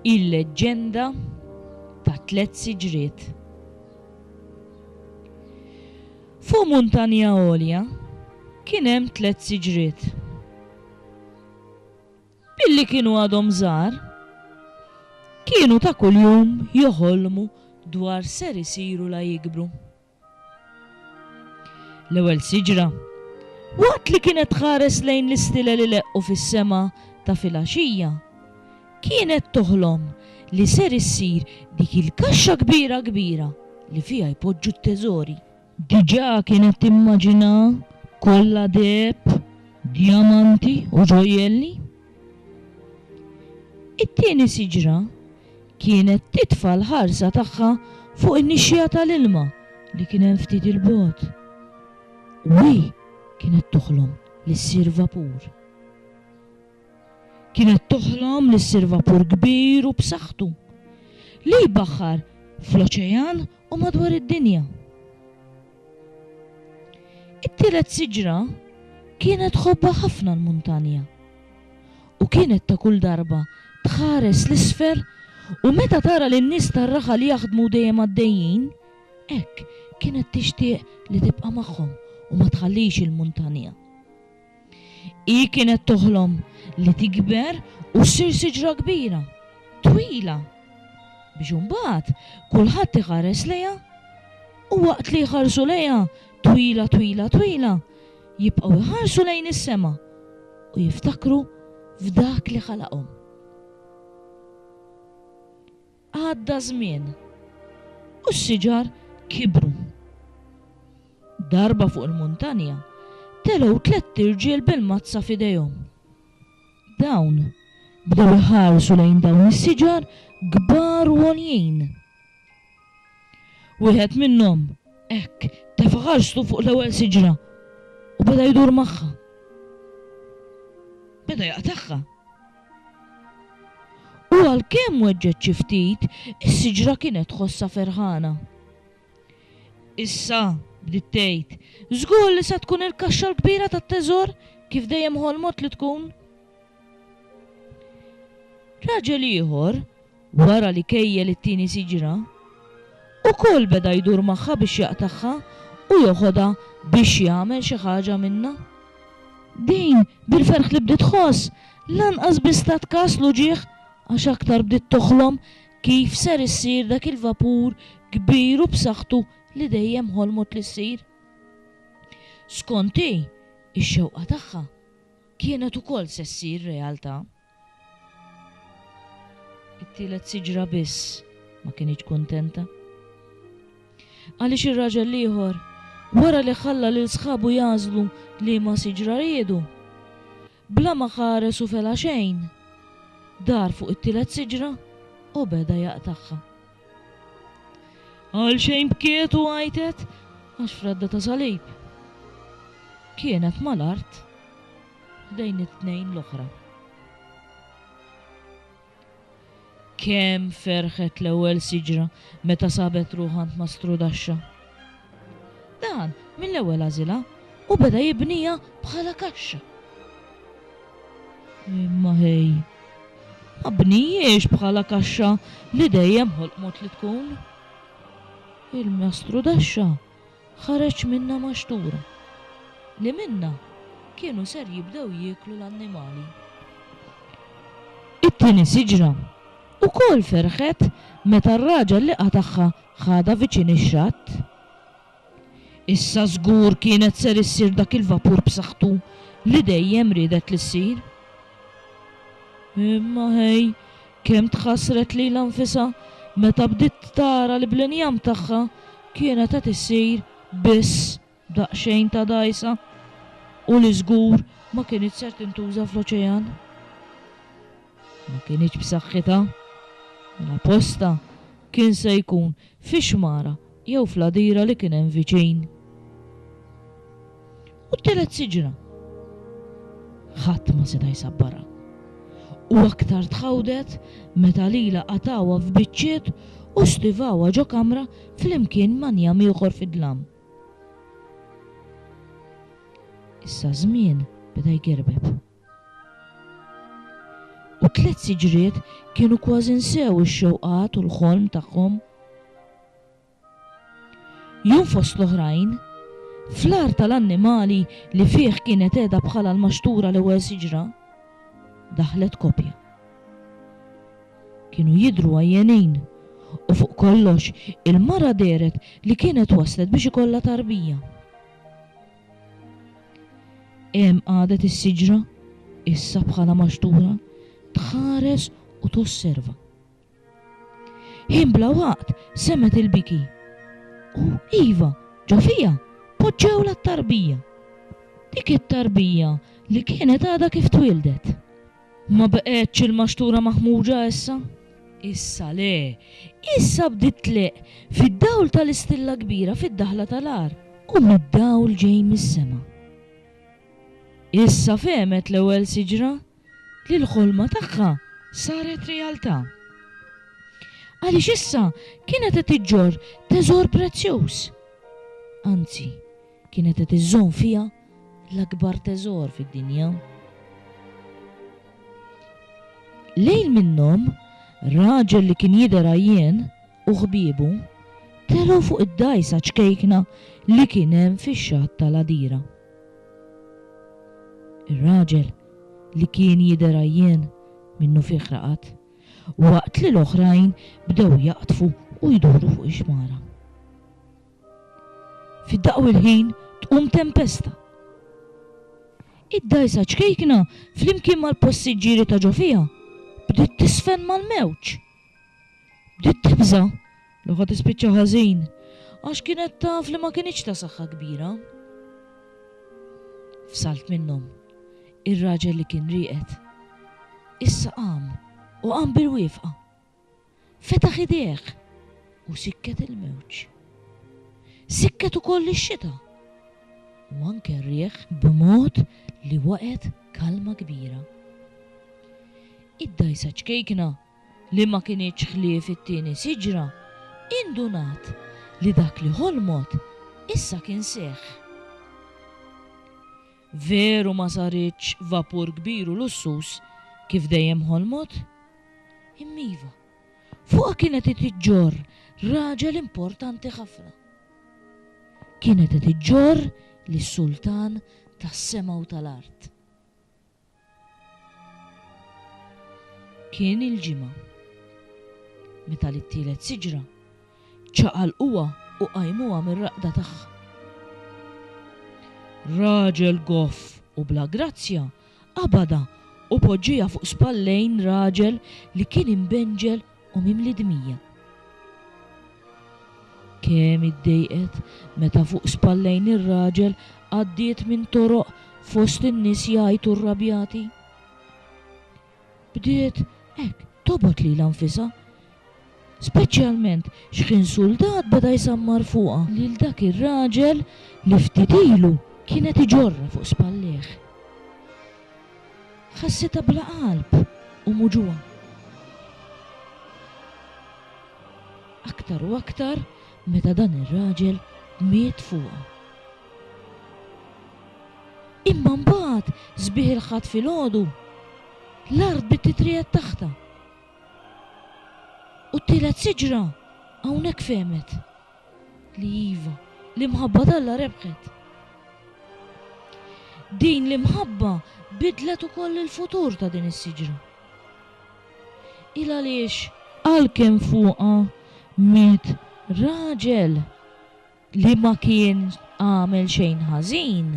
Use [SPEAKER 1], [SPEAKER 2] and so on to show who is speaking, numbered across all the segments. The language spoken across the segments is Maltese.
[SPEAKER 1] Il-leġġenda ta' tliet siġriet. Fuq muntanja għolja kien hemm tliet siġriet. Billi kienu għadhom żgħar, kienu ta' kuljum joħolmu dwar ser isiru la jikbru. L-ewwel siġra, waqt li kienet tħares lejn l-istilel ileqqu fis-sema ta' filgħaxija, kienet toħlom li ser issir dik il-kaxxa kbira kbira li fiha jpoġġu t-teżori. Diġà kienet timmaġina kollha deheb, djamanti u ġojjelli. It-tieni siġra kienet titfa' l-ħarsa tagħha fuq in-nixxiegħa tal-ilma li kien hemm ftit 'il bogħod. U hi kienet toħlom li ssir vapur. kienet toħlom li ssir vapur kbir u b'saħħtu, li jbaħħar fl-oċean u madwar id-dinja. It-tielet siġra kienet tħobbha ħafna l-muntanja u kienet ta' kull darba tħares 'l isfel u meta tara lin-nies tar-raħal jaħdmu dejjem għaddejjin, hekk kienet tixtieq li tibqa' magħhom u ma tħallix il-muntanja. Hi kienet toħlom li tikber u ssir siġra kbira, twila, biex imbagħad kulħadd iħares lejha u waqt li jħarsu lejha twila twila twila, jibqgħu jħarsu lejn is-sema u jiftakru f'Dak li ħalaqhom. Għadda żmien, u s-siġar kibru. Darba fuq il-muntanja telgħu tlett irġiel bil-mazza f'idejhom. Dawn bdew iħarsu lejn dawn is-siġar kbar u għoljin. Wieħed minnhom, hekk, tefa' ħarstu fuq l-ewwel siġra u beda jdur magħha. Beda jaqtagħha. U għalkemm weġġgħet xi ftit, is-siġra kienet tħossha ferħana. Issa, bdiet tgħid, żgur li se tkun il-kaxxa l-kbira tat-teżor kif dejjem ħolmot li tkun. Raġel ieħor, Wara li kejjel it-tieni siġra, ukoll beda jdur magħha biex jaqtagħha u joħodha biex jagħmel xi ħaġa minnha. Din, bil-ferħ li bdiet tħoss, lanqas biss tat kas l-uġigħ għax aktar bdiet toħlom kif ser issir dak il-vapur kbir u b'saħħtu li dejjem ħolmot li ssir. Skont hi, ix-xewqa tagħha kienet ukoll se ssir realtà. It-tielet siġra biss ma kinitx kuntenta. Għaliex ir-raġel l-ieħor, wara li ħalla lil sħabu jagħżlu liema siġra riedu, bla ma ħares u fela xejn, dar fuq it-tielet siġra u beda jaqtagħha. Għalxejn bkiet u għajtet għax fradda ta' salib kienet mal-art. bejn it-tnejn l-oħra. Kemm ferħet l-ewwel siġra meta sabet ruħha għand Mastru Daxxa. Dan mill-ewwel għażilha u beda jibniha bħala kaxxa. Imma ħej, ma bnijiex bħala kaxxa li dejjem ħolqmot li tkun. Il-Mastru Daxxa Ħareġ minnha maxtura, li minnha kienu ser jibdew jieklu l-annimali. It-tieni siġra wkoll ferħet meta r-raġel liqa' tagħha ħadha viċin ix-xatt. Issa żgur kienet ser issir dak il-vapur b'saħħtu li dejjem riedet li ssir. Imma ħej! Kemm tħassret lilha nfisha meta bdiet tara li bl-injam tagħha kienet qed issir biss daqsxejn ta' dgħajsa u li żgur ma kinitx ser tintuża fl-oċejan. Ma kinitx b'saħħitha. Mela postha kien se jkun fi xmara jew fl-għadira li kien hemm viċin. U t-tielet siġra? Ħadd ma seta' jsabbarha. U aktar tħawdet meta lilha qatgħuha f'biċċiet u stivawha ġo kamra flimkien ma' njam ieħor fid-dlam. Issa ż-żmien beda jgerbeb. U t-tliet siġriet kienu kważi nsew ix-xewqat u l-ħolm tagħhom. Jum fost l-oħrajn, fl-agħar tal-annimali li fih kienet qiegħda bħala l-maxtura l-ewwel siġra, daħlet kopja. Kienu jidhru għajjenin u fuq kollox il-mara dehret li kienet waslet biex ikollha tarbija. Hemm qagħdet is-siġra, issa bħalha maxtura, tħares u tosserva. Ħin bla waqt semgħet il-biki. U, iva, ġo fija, poġġewlha t-tarbija. Dik it-tarbija li kienet għadha kif twieldet. Ma baqgħetx il-maxtura maħmuġa issa? Issa le. Issa bdiet tleqq, fid-dawl tal-istilla kbira fid-daħla tal-għar. U mid-dawl ġej mis-sema. Issa fehmet l-ewwel siġra li l-ħolma tagħha saret realtà. Għaliex issa kienet qed iġġorr teżor prezzjuż. Anzi, kienet qed iżżomm fiha l-akbar teżor fid-dinja. Lejl minnhom, raġel li kien jidher għajjien u ħbiebu telgħu fuq id-dgħajsa ċkejkna li kien hemm fix-xatt tal-għadira. Ir-raġel li kien jidher għajjien minnufih raqad, waqt li l-oħrajn bdew jaqdfu u jduru fuq ix-xmara. Fi daqq il-ħin tqum tempesta. Id-dgħajsa ċkejkna flimkien mal-passiġġieri ta' ġo fiha bdiet tiżfen mal-mewġ. Bdiet tibża' li ħa tispiċċa ħażin għax kienet taf li ma kinitx ta' saħħa kbira. Fsalt minnhom, ir-raġel li kien rieqed issa qam u qam bil-wiefqa. fetaħ idejh u sikket il-mewġ. Sikket ukoll ix-xita u anke r-riħ b'mod li waqgħet kalma kbira. Id-dgħajsa ċkejkna li ma kinitx ħlief it-tieni siġra indunat li dak li ħolmot issa kien seħħ. Veru ma saritx vapur kbir u lussuż kif dejjem ħolmot? Im'iva, fuqha kienet qed iġġorr raġel importanti ħafna. Kienet qed iġġorr lis-Sultan tas-sema u tal-art. Kien il-Ġimgħa. Meta lit-tielet siġra, ċaqalquha u qajmuha mir-raqda tagħha. Raġel goff u bla grazzja qabadha u poġġieha fuq spallejn raġel li kien imbenġel u mimli dmija. Kemm iddejqet meta fuq spallejn ir-raġel għaddiet minn toroq fost in-nies jgħajtu rrabjati. Bdiet hekk tobgħod lilha nfisha. Speċjalment x'ħin suldat beda jsammar fuqha. Lil dak ir-raġel li ftit ilu kienet iġorrha fuq spallejh. Ħassitha bla qalb u muġugħa. Aktar u aktar meta dan ir-raġel miet fuqha. Imma mbagħad sbiħ il-Ħadd filgħodu, l-art bidt titriegħed taħtha. U t-tielet siġra hawnhekk fehmet. li iva, l-imħabba t'Alla rebħet. Din l-imħabba biddlet ukoll il-futur ta' din is-siġra. Il għaliex? Għalkemm fuqha miet raġel li ma kien għamel xejn ħażin,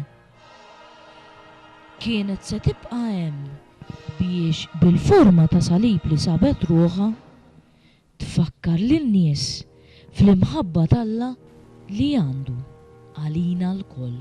[SPEAKER 1] kienet se tibqa' hemm biex bil-forma ta' salib li sabet ruħha Tfakkar lin-nies fl-imħabba t'Alla li għandu għalina lkoll.